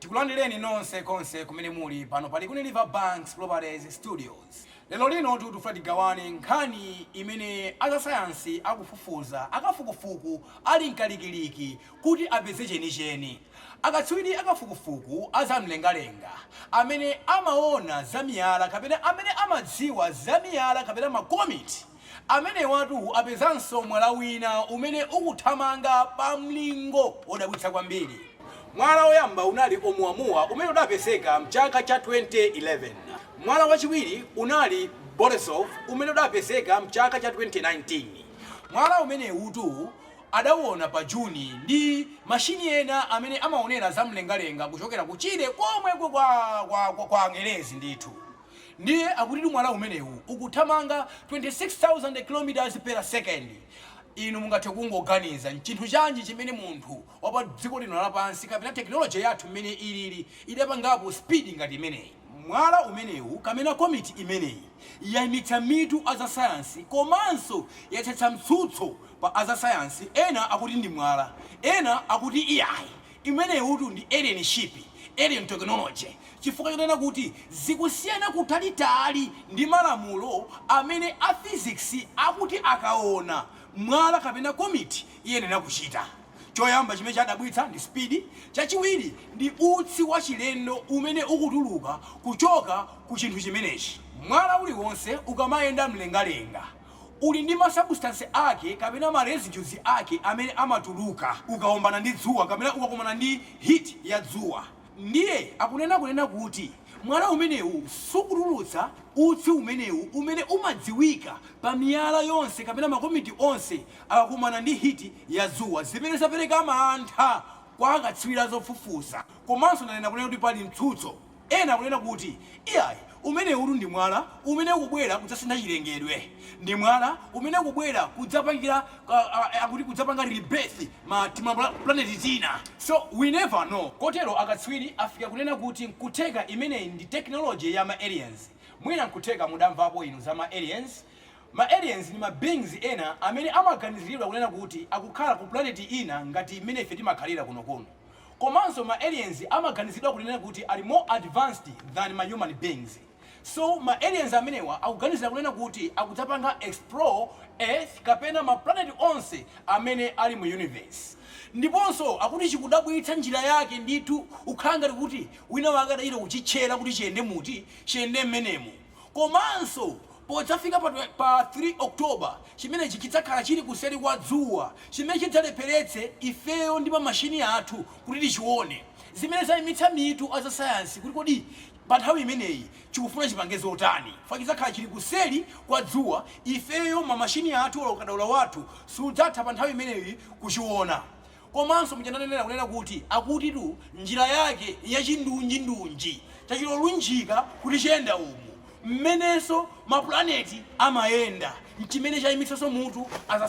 Tikulandireni nonse konse kumene muli, pano pa Likuni River Banks Properties Studios. Lero lino tikufuna tigawane nkhani imene azasayansi akufufuza, akafukufuku ali mkalikiliki kuti apeze chenicheni. Akatswiri akafukufuku a za mlengalenga, amene amaona za miyala kapena amene amadziwa za miyala kapena makomiti, Amenewatu apezanso mwala wina umene ukuthamanga pamlingo wodabwitsa kwambiri. Mwala woyamba unali Oumuamua, umene udapezeka m'chaka cha 2011. Mwala wachiwiri unali Borisov, umene udapezeka m'chaka cha 2019. Mwala umenewutu adaona pa June ndi mashini ena amene amaonera zamlengalenga kuchokera kutchire komweko kwa Angelezi ndithu. Ndiye akutitu mwala umenewu ukuthamanga 26,000 km per second. Inu mungathe kungoganiza, nchinthu chanji chimene munthu wa pa dziko lino lapansi kapena technology yathu mmene ilili idapangapo speed ngati imeneyi? Mwala umenewu kamena komiti imeneyi yaimitsa mitu a za sayansi komanso yadzetsa mtsutso pa a za sayansi, ena akuti ndi mwala, ena akuti iyayi, Imeneyitu ndi alien ship, alien technology, chifukwa chonena kuti zikusiyana kutalitali ndi malamulo amene a physics akuti akaona mwala kapena komiti iyenera kuchita. Choyamba chimene chadabwitsa ndi speed, chachiwiri ndi utsi wachilendo umene ukutuluka kuchoka ku chinthu chimenechi. Mwala uliwonse ukamayenda m'mlengalenga. Uli ndi masabusitansi ake kapena ma residues ake amene amatuluka ukaombana ndi dzuwa kapena ukakumana ndi heat ya dzuwa. Ndiye akunena kunena kuti mwala umenewu sukutulutsa utsi umenewu umene umadziwika pa miyala yonse kapena makomiti onse akakumana ndi heat ya dzuwa zimene zapereka mantha kwa akatswiri a zofufuza komanso nanena kunena kuti pali mtsutso Ena akunena kuti, Iyayi, umenewutu ndi mwala umene ukubwera kudzasintha chilengedwe. Ndi mwala umene ukubwera kudzapangira, a, a, a, akuti kudzapanga rebirth ma, timaplaneti tina. So, we never know. Kotero akatswiri afika kunena kuti nkutheka imeneyi ndi technology ya ma aliens. Mwina nkutheka mudamvapo inu za ma aliens. Ma aliens ndi ma beings ena amene amaganiziridwa kunena kuti akukhala ku planeti ina ngati mmene ife timakhalira kunokuno. Komanso ma aliens amaganizidwa kunena kuti ali more advanced than ma human beings. So ma aliens amenewa akuganizira kunena kuti akudzapanga explore earth kapena ma planet onse amene ali mu universe. Ndiponso akuti chikudabwitsa njira yake ndithu kukhala ngati kuti wina wake adachita kuchitchera kuti chiyende muti chiyende mmenemu. Komanso, podzafika pa 3 October, chimenechi chidzakhala chili kuseri kwa dzuwa, chimene chidzalepheretse ifeyo ndi mamashini athu kuti tichione, zimene zaimitsa mitu a zasayansi kuti kodi panthawi imeneyi chikufuna chipange zotani, chifukwa chidzakhala chili kuseri kwa dzuwa, ifeyo, mamashini athu, olo kadaulo wathu sudzatha panthawi imeneyi kuchiona. Komanso muja ndanenera kunena kuti akutitu njira yake yachindunjindunji, chachilolunjika kuti chiyenda umu. Mmenenso mapulaneti amayenda n'chimene chaimitsanso mutu as a.